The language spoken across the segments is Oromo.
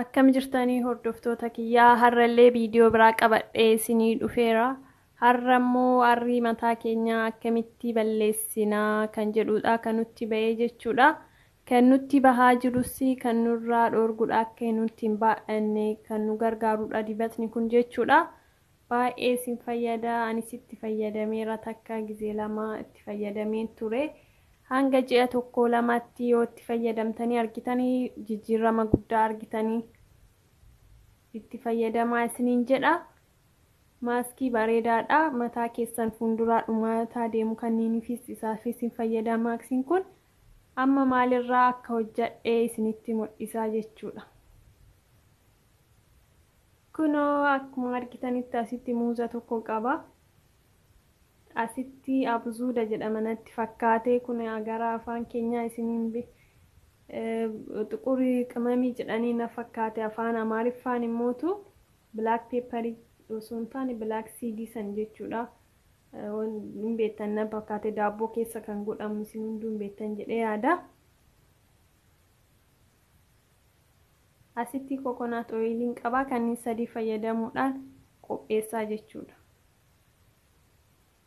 Akkam jirtanii hordoftoota kiyyaa har'allee viidiyoo biraa qabadhee isinii dhufeera. Har'a immoo arrii mataa keenyaa akkamitti balleessinaa kan jedhudha kan nutti ba'ee jechuudha. Kan nutti bahaa jirus kan nurraa dhoorgudha akka nutti hin baay'anne kan nu gargaarudha dibatni kun jechuudha. Baay'ee isin fayyada anis itti fayyadameera takka gizee lama itti fayyadameen ture. Hanga ji'a tokko lamatti yoo itti fayyadamtanii argitanii jijjiirama guddaa argitanii itti fayyadamaa isiniin jedha. Maaskii bareedaadha mataa keessan fuulduraa dhumaataa deemu kanniiniifis isaafis hin fayyada maaksiin kun. Amma maal irraa akka hojjadhe isinitti mul'isa jechuudha. Kunoo akkuma argitanitti asitti muuza tokko qaba. Asitti abuzuuda jedhama natti fakkaate kun gara afaan keenyaa isiniin bi xuqurii qimamii jedhanii na fakkaate afaan amaariffaan immootu bilaak peeparii osoo hin taane bilaak siidii san jechuudha. hin beektan na fakkaate daabboo keessa kan godhamu isin hunduu hin beektan jedhee yaada. Asitti kokonaat ooyiliin qabaa kanneen sadii fayyadamuudhaan qopheessaa jechuudha.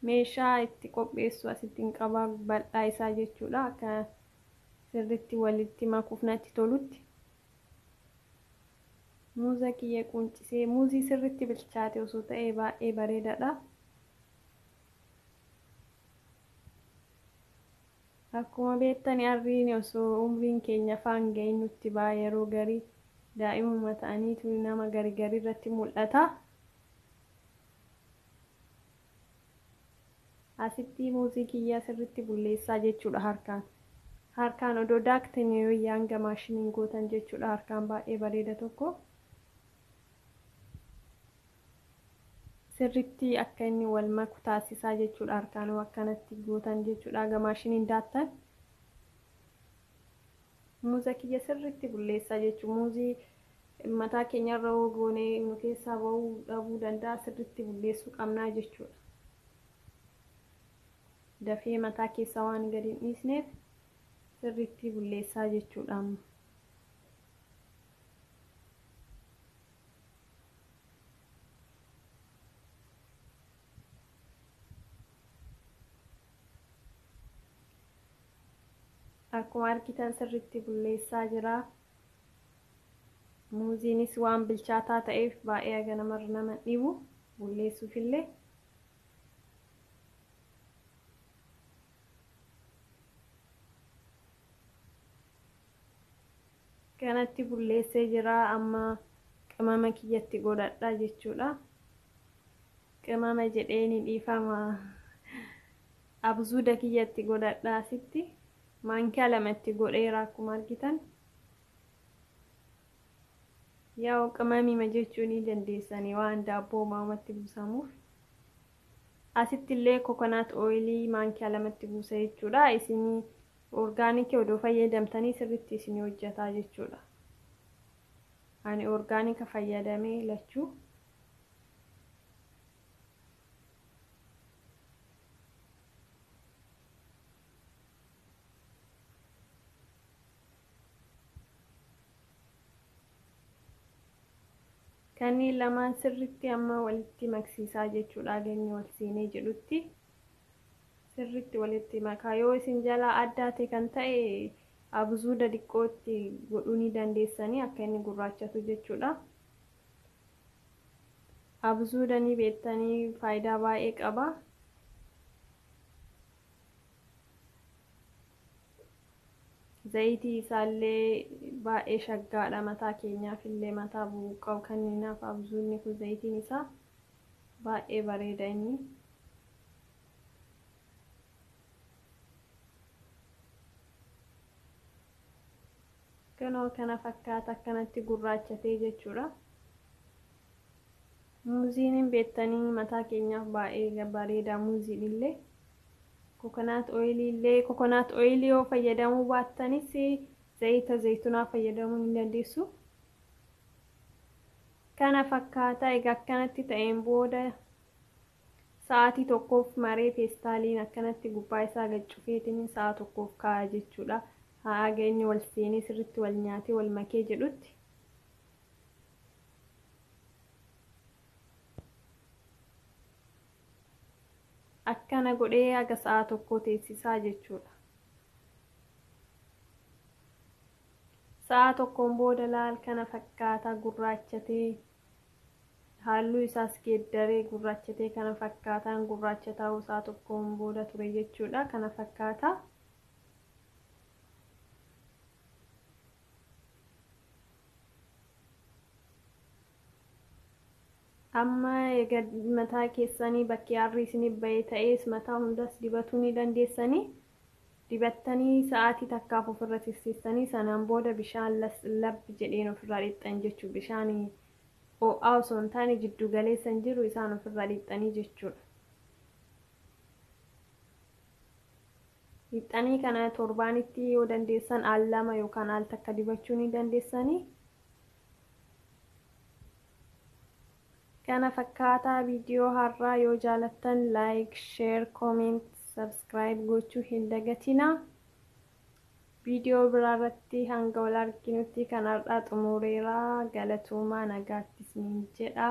Meeshaa itti qopheessu asitti hin qabaa bal'aa isaa jechuudha akka sirriitti walitti makuuf natti tolutti. Muuza kiyya quuncisee. Muuzii sirritti bilchaate osoo ta'ee baay'ee bareedadha. Akkuma beektani arriini osoo umriin keenya faan gahin nutti ba'a yeroo gari daa'imuma ta'aniitu nama gari gari irratti mul'ata. Asittii muuzii kiyyaa sirritti bulleessaa jechuudha harkaan. Harkaan odoo daaktanii wayya hanga maashiniin gootan jechuudha harkaan baay'ee bareeda tokko. Sirritti akka inni wal maku taasisaa jechuudha harkaan akkanatti gootan jechuudha hanga maashiniin daattan. Muuza kiyya sirriitti bulleessaa jechuun muuzii mataa keenyarra yoo goone nu keessaa ba'uu dhabuu danda'a sirriitti bulleessuu qabnaa jechuudha. Dafee mataa keessaa waan gadi hin dhiisneef sirriitti bulleessaa jechuudha amma. Akkuma argitan sirriitti bulleessaa jira. Muuziinis waan bilchaataa ta'eef baay'ee haga namarra nama hin dhibu. Bulleessuufillee. Kanatti bulleessee jira. Amma qimama kiyyatti godhadha jechuudha. Qimama jedhee ni dhiifama. Abzuuda kiyya itti godhadha asitti maankiyaa lama itti godheera akkuma argitan yaa'u qimamiima jechuu ni dandeessanii waan daabboo maamatti buusamuuf asitti illee kokonaat ooyilii maankiyaa lamatti buusa jechuudha isin orgaanikii odoo fayyadamtanii sirritti isin hojjataa jechuudha ani orgaanika fayyadamee lachuu kanneen lamaan sirritti amma walitti maksiisaa jechuudha geenye wal siinee jedhutti sirritti walitti makaa yoo isin jalaa addaate kan ta'e abzuuda diqqootti godhuu ni dandeessanii akka inni gurraachatu jechuudha Abzuuda ni beettanii faayidaa baay'ee qaba. Zayitii isaallee baay'ee shaggaadha mataa keenyaaf illee mataa bubuqqa'u kanniinaaf abzuudni kun zayitiin isaa baay'ee bareeda inni. Kunoo kana fakkaata akkanatti gurraachatee jechuudha. Muuziin hin beektanii mataa keenyaaf baay'ee bareedaa muuziin illee. Kokonaat ooyilii illee kokonaat ooyilii yoo fayyadamuu baattanis zayita zaytunaa fayyadamuu hin dandeessu. Kana fakkaata egaa akkanatti ta'een booda Sa'aatii tokkoof maree peestaaliin akkanatti gubbaa isaa gad cufeetiniin sa'a tokkoof kaa'a jechuudha. Haaga inni wal seenee sirritti wal nyaatee wal makee jedhutti. Akkana godhee haga sa'a tokkoo teessisaa jechuudha. Sa'a tokkoon booda laal kana fakkaata gurraachatee Halluu isaas geeddaree gurraachatee kana fakkaataan gurraacha ta'uu isaa tokkoon booda ture jechuudha. Kana fakkaata. Amma egaa mataa keessanii bakki aarrii isiniif ba'ee ta'ees mataa hundas dibatuu ni dandeessanii. dibattanii sa'aatii takkaaf ofirra tiksiiftanii sanaan booda bishaan laslab jedheen ofirraa dhiqxan jechuudha. Bishaan oo'aa osoo hin taane jidduu galeessa hin jiru isaan ofirraa dhiqxanii jechuudha. Dhiqxanii kana torbaanitti yoo dandeessan al lama yookaan al takka dibachuu ni dandeessanii. kana fakkaataa video har'aa yoo jaalattan like share comment subscribe gochuu hin dagatinaa video biraa irratti hanga wal arginutti kan har'aa xumureera galatoomaa nagaatti isiniin jedha